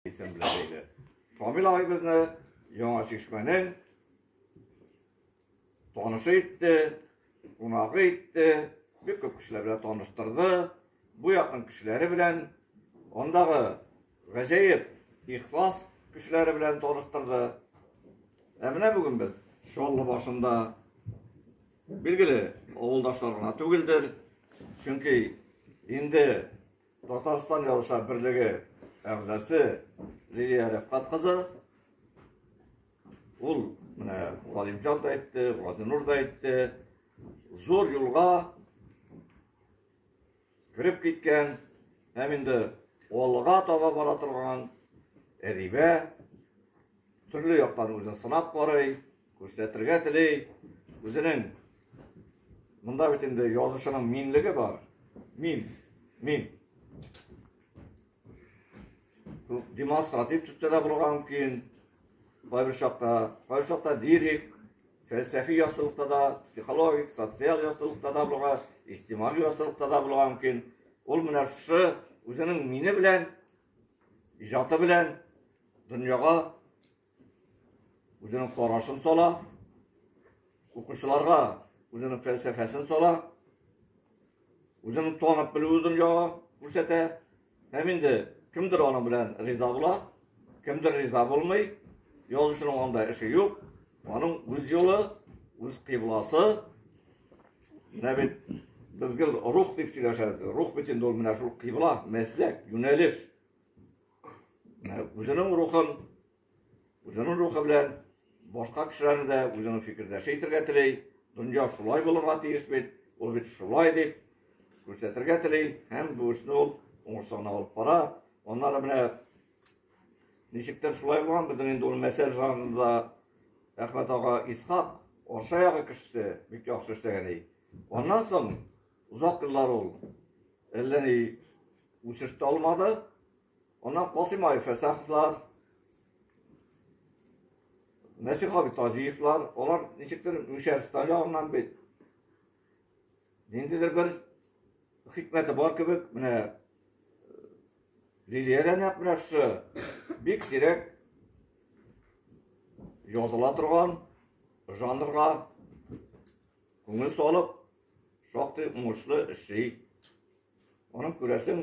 Исемле иде. Шамил абыйбызны Яңа Чишмәнең танышы итте, кунагы итте, бик күп кешеләр белән таныштырды. Бу якның кешеләре белән андагы гаҗәеп ихлас кешеләре белән таныштырды. Ә менә бүген без Чаллы башында билгеле авылдашлар гына түгелдер. Чөнки инде Татарстан язучылар берлеге әгъзасы Лилия Рәфкат кызы. Ул менә Галимҗан да әйтте, Гадинур да әйтте. Зур юлга кереп киткән һәм инде алга таба бара торган әдибә төрле яктан үзен сынап карый, Күрсәтергә тели үзенең монда бит инде язучының минлеге бар. Мин, мин. Демонстратив төстә дә булырга мөмкин. Кайбер чакта, кайбер чакта лирик, фәлсәфи ястылыкта да, психологик, социаль ястылыкта да булырга, истималь ястылыкта да булырга мөмкин. Ул менә шушы үзенең мине белән, иҗаты белән дөньяга үзенең карашын сала, укучыларга үзенең фәлсәфәсен сала, үзенең танып белүе дөньяга күрсәтә. Һәм инде кемдер аның белән риза була, кемдер риза булмый, язучының анда эше юк, аның үз юлы, үз кыйбласы. Менә бит без гел рух дип сөйләшәбез. Рух бит инде ул менә шул кыйбла, мәсләк, юнәлеш. үзенең рухын үзенең рухы белән башка кешеләрне дә үзенең фикердәше итергә тели дөнья шулай булырга тиеш бит ул бит шулай дип күрсәтергә тели һәм бу эшне ул уңышсызлана алып бара аннары менә ничектер шулай булган безнең инде ул мәсәл жанрында әхмәт ага исхак орша ягы кешесе бик яхшы эшләгән ди аннан соң Озак еллар ул әллә ни үсеш тә алмады. Аннан Касыймаев Фәсәховлар, Нәсих абый Тазиевлар, алар ничектер Мишәрстан ягыннан бит. Ниндидер бер хикмәте бар кебек, менә Лилия дә нәкъ менә шушы бик сирәк языла торган жанрга күңел салып Шактый уңышлы эшли. Аның күрәсең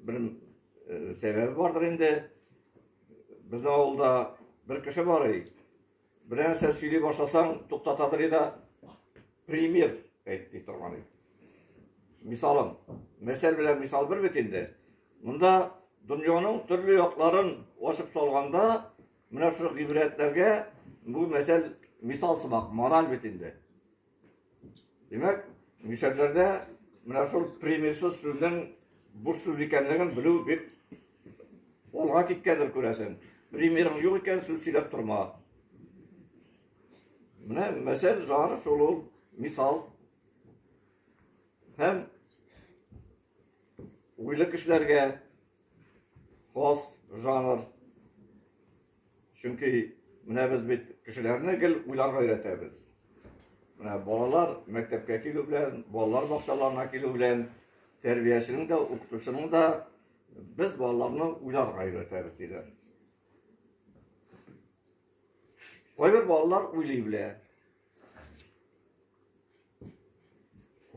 бер э, сәбәбе бардыр инде. Безнең авылда бер кеше бар ей. Бер нәрсә сөйли башласаң, туктатадыр иде. Пример әйтте торган иде. Мисалым, мәсәл белән мисал бер бит инде. Монда дөньяның төрле якларын ачып салганда, менә шул гыйбрәтләргә бу мәсәл мисал сымак, мораль бит инде. Димәк, мишәрләрдә менә шул примерсыз сүзнең буш сүз икәнлеген белү бик олга киткәндер күрәсең. Примерың юк икән, сүз сөйләп торма. Менә мәсәл жанры шул ул, мисал. Һәм уйлы кешеләргә хас жанр Чөнки менә без бит кешеләрне гел уйларга өйрәтәбез. Менә балалар мәктәпкә килү белән, балалар бакчаларына килү белән тәрбияченең дә, укытучының да без балаларны уйларга өйрәтәбез диләр. Кайбер балалар уйлый белә,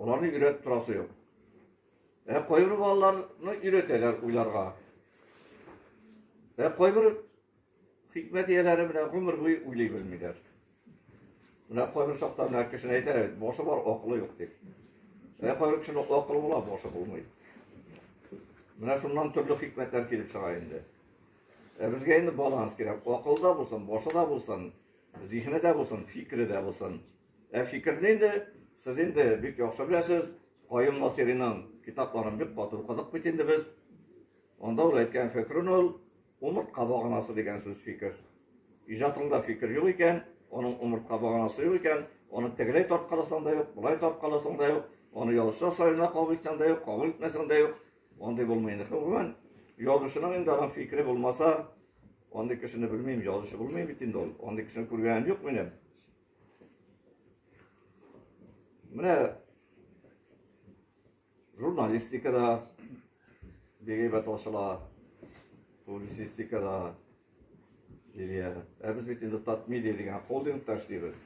Аларны өйрәтеп торасы юк. Ә кайбер балаларны өйрәтәләр уйларга. Ә кайбер хикмәт ияләре менә гомер буе уйлый белмиләр. Менә кайбер чакта менә кешене әйтәләр, башы бар, акылы юк дип. Ә кайбер кешенең акылы була, башы булмый. Менә шуннан төрле хикмәтләр килеп чыга инде. Ә безгә инде баланс кирәк. Акылы да булсын, башы да булсын, Зиһене дә булсын, фикере дә булсын. Ә фикерне инде сез инде бик яхшы беләсез. Каюм Насыйриның китапларын бик каты укыдык бит инде без. Анда ул әйткән фикерен ул умыртка баганасы дигән сүз фикер. Иҗатыңда фикер юк икән, оның умыртка баганасы юк икән, оны тегеләй тарткаласаң да юк, былай тарткаласаң да юк, оны ялчылар саена кабул итсәң дә юк, кабул итмәсәң дә юк, Андый булмый инде. Гомумән, язучының инде аның фикере булмаса, андый кешене белмим, язучы булмый бит инде ул. Андый кешене күргәнем юк минем. Менә журналистикада бигәйбәт ачыла, публицистикада, Лилия, ә без бит инде Татмедиа дигән холдингта эшлибез.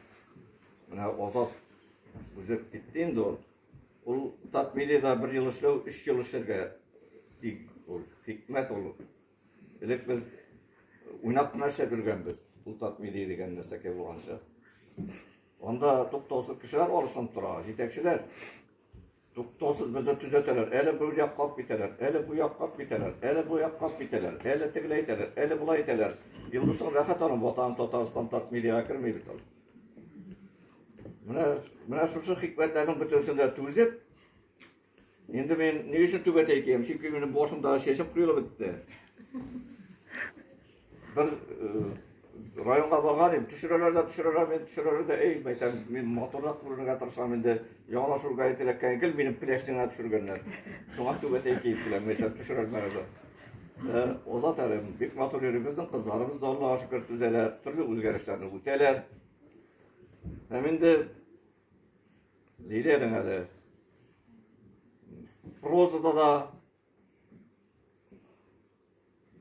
Менә Азат үзе китте инде ул. Ул Татмедиада бер ел эшләү, өч ел эшләргә тик ул хикмәт ул. Элек без уйнап кына эшләп йөргәнбез. Ул Татмедиа дигән нәрсәкә булганча. Анда туктаусыз кешеләр арышынып тора, җитәкчеләр. Туктаусыз безне төзәтәләр, әле бер якка алып китәләр, әле бу якка алып китәләр, әле бу якка алып китәләр, әле тегеләй әйтәләр, әле болай әйтәләр. Илдусның рәхәт аның ватаны Татарстан Татмедиага керми бит ул. Менә менә шушы хикмәтләрнең бөтенесен дә түзеп, инде мин ни өчен түбәтәй киям? Чөнки минем башымда чәчем коелып бетте. Бер районга барган идем, төшерәләр дә төшерәләр, мин төшерәләр дә, эй, мәйтәм, мин матурлап күрергә тырышам инде, яңалашырга ителәккән гел минем пеләштеңә төшергәннәр. Шуңа түбәтәй киеп киләм, мәйтәм, төшерәлмәгез. Э, Озат әле, бик матур йөрибезнең кызларыбыз да Аллага шөкер түзәләр, төрле үзгәрешләрне үтәләр. Һәм инде Лилиянең әле прозада да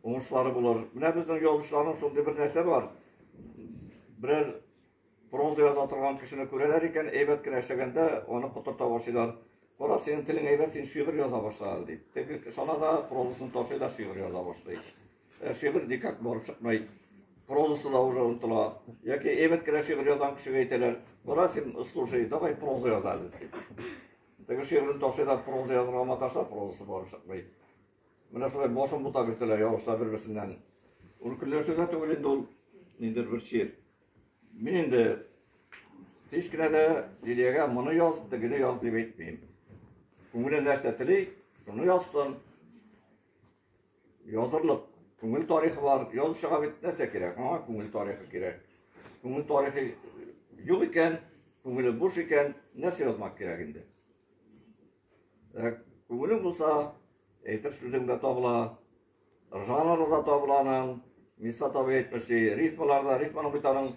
Уңышлары булыр. Менә безнең язучыларның шундый бер нәрсә бар. Берәр проза яза торган кешене күрәләр икән, әйбәт кенә эшләгәндә аны котырта башлыйлар. Кара, синең телең әйбәт, син шигырь яза башла әле дип. Теге шана да прозасын ташлый да шигырь яза башлый. Ә шигырь никак барып чыкмый. Прозасы да уже онытыла. Яки әйбәт кенә шигырь язган кешегә әйтәләр, кара, син слушай, давай проза яза әле дип. Теге шигырен ташлый да проза язырга маташа, прозасы барып чыкмый. Менә шулай башын бота бирделәр яугышлар бер-берсеннән. Ул көнләшү дә түгел инде ул, ниндер бер чир. Мин инде һич кенә дә Лилиягә моны яз, тегене яз дип әйтмим. Күңеле нәрсә тели, шуны язсын. Язырлык күңел тарихы бар. Язучыга бит нәрсә кирәк? Аңа күңел тарихы кирәк. Күңел тарихы юк икән, күңеле буш икән, нәрсә язмак кирәк инде? Ә күңелең булса, әйтер сүзең дә табыла, жанры да табыла аның. Миста табы әйтмешли, рифмалар да, рифманың бит аның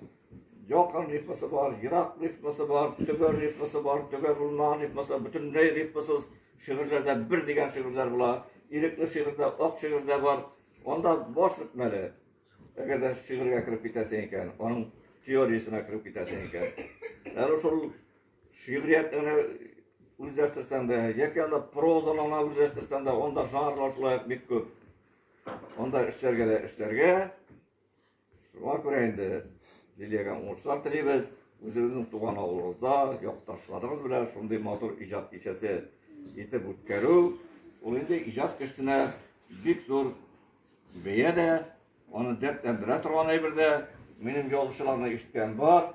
якын рифмасы бар, ерак рифмасы бар, төгәл рифмасы бар, төгәл булмаган рифмасы, бөтенләй рифмасыз шигырьләрдә бер дигән шигырьләр була. Ирекле шигырьдә, ак шигырьдә бар. Анда баш бетмәле. Әгәр дә шигырьгә кереп китәсең икән, аның теориясенә кереп китәсең икән. Әле шул Шигъриятне генә үзләштерсәң дә, яки анда прозаны гына үзләштерсәң дә, анда жанрлар шулай ук бик күп. Анда эшләргә дә эшләргә. Шуңа күрә инде Лилиягә уңышлар телибез. Үзегезнең туган авылыгызда, якташларыгыз белән шундый матур иҗат кичәсе итеп үткәрү, ул инде иҗат кешесенә бик зур бәя дә, аны дәртләндерә торган әйбер дә. Минем язучыларны ишеткән бар.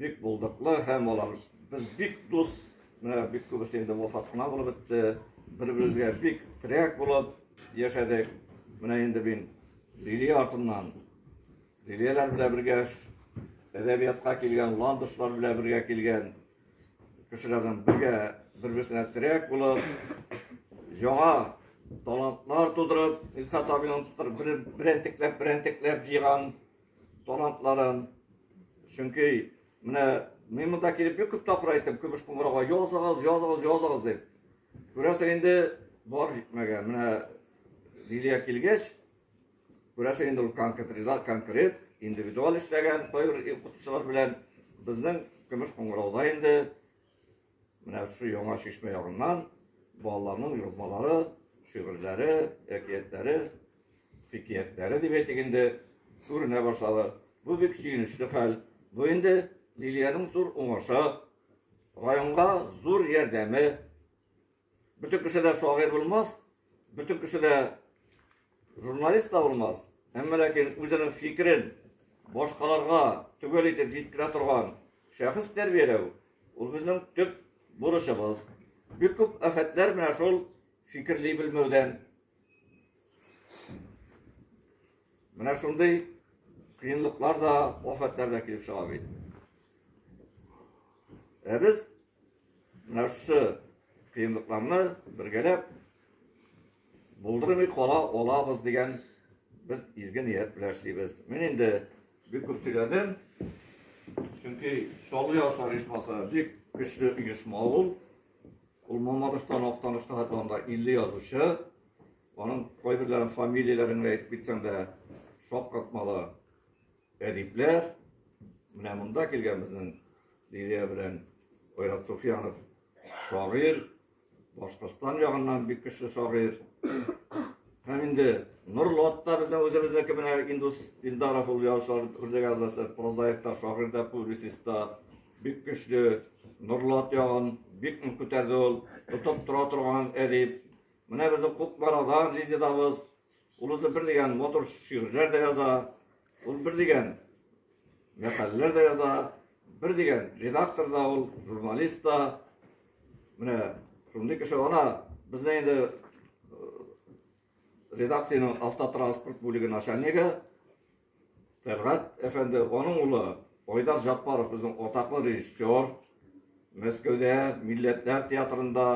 Бик булдыклы һәм алар без бик дус, менә бик күбесе инде вафат кына булып бетте. Бер-беребезгә бик терәк булып яшәдек. Менә инде мин Лилия артыннан Лилияләр белән бергә әдәбиятка килгән, ландышлар белән бергә килгән кешеләрнең бергә бер-берсенә терәк булып, яңа талантлар тудырып, Илсат абыйның бер, берәнтекләп, берәнтекләп җыйган Талантларын. Чөнки менә мин монда килеп бик күп тапкыр әйттем, көмеш кумырага языгыз, языгыз, языгыз дип. Күрәсең инде бар җитмәгән. Менә Лилия килгәч, күрәсең инде ул конкретиза, конкрет, индивидуаль эшләгән, кайбер укытучылар белән безнең көмеш кумырада инде Менә шушы яңа чишмә ягыннан балаларның язмалары, шигырьләре, әкиятләре, хикәятләре дип әйтик инде, күренә башлады. Бу бик сөенечле хәл. Бу инде Лилиянең зур уңышы, районга зур ярдәме. Бөтен кеше дә шагыйрь булмас, бөтен кеше дә журналист та булмас. Әмма ләкин үзенең фикерен башкаларга төгәл итеп җиткерә торган шәхес тәрбияләү ул безнең төп бурычыбыз. Бик күп афәтләр менә шул фикерли белмәүдән. Менә шундый кыенлыклар да, афәтләр дә килеп чыга бит. Ә без нәрсә кыенлыкларны бергәләп булдырмый кала алабыз дигән без изге ният белән эшлибез. Мин инде бик күп сөйләдем. Чөнки Чаллы яшьләр оешмасы бик көчле оешма ул. Ул Мамадыштан Актаныштан хәтләндә 50 язучы. Аның кайберләрен фамилияләрен әйтеп китсәң дә шаккатмалы. Әдипләр, менә монда килгән безнең Лилия белән Айрат Суфьянов шагыйрь, Башкортстан ягыннан бик көчле шагыйрь. Һәм инде Нурлы ат та безнең үзебезнеке менә Индус Илдаров ул язучылар берлеге әгъзасы, прозаик та, шагыйрь дә, публицист та бик көчле. Нурлы ат ягын бик нык күтәрде ул, тотып тора торган әдип. Менә безнең Кукмарадан Резедабыз Ул үзе бер дигән мотор шигырьләр дә яза, ул бер дигән мәкаләләр дә яза, бер дигән редактор да ул, журналист та. Менә шундый кеше ана безне инде редакциянең автотранспорт бүлеге начальнигы Тәлгать әфәнде, аның улы Айдар Җаппаров безнең атаклы режиссер. Мәскәүдә Милләтләр театрында,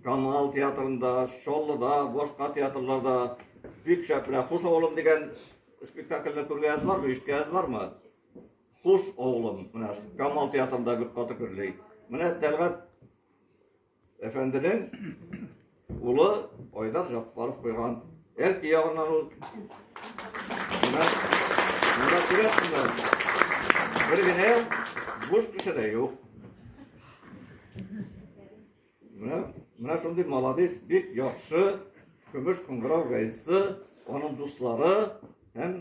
Камал театрында, Чаллыда, башка театрларда бик шәп менә Хуш авылым дигән спектакльне күргәнегез бармы, ишеткәнегез бармы? Хуш авылым, менә Камал театрында бик каты күрли. Менә Тәлгать Әфәнденең улы Айдар Жаппаров куйган. Әлки ягыннан ул. Менә күрәсеңме? Бер генә буш кеше дә юк. Менә менә шундый молодец, бик яхшы көмеш кыңгырау гайсы, аның дуслары һәм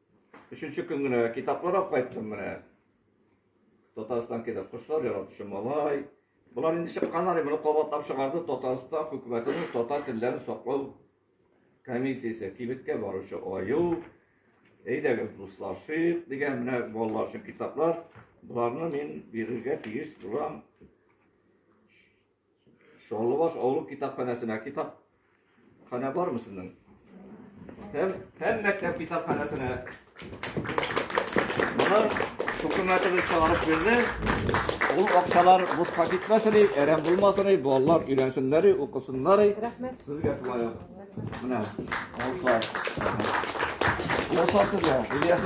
Өченче көн генә китаплар алып кайттым менә. Татарстан китап кошлар яратучы малай. Болар инде чыккан әле, моны кабатлап чыгарды Татарстан хөкүмәтенең татар телләрен саклау комиссиясе кибеткә баручы аю. Әйдәгез дуслашыйк дигән менә балалар өчен китаплар. Боларны мин бирергә тиеш булам. Чаллыбаш авылы китапханәсенә китап хана бармы сезнең? Һәм һәм мәктәп китапханәсенә. Моны хөкүмәтебез чыгарып бирде. Ул акчалар бушка китмәсен, әрәм булмасын, балалар өйрәнсеннәр, укысыннар. Рәхмәт. Сезгә шулай. Менә, алышлар. Ясасызга, Ильяс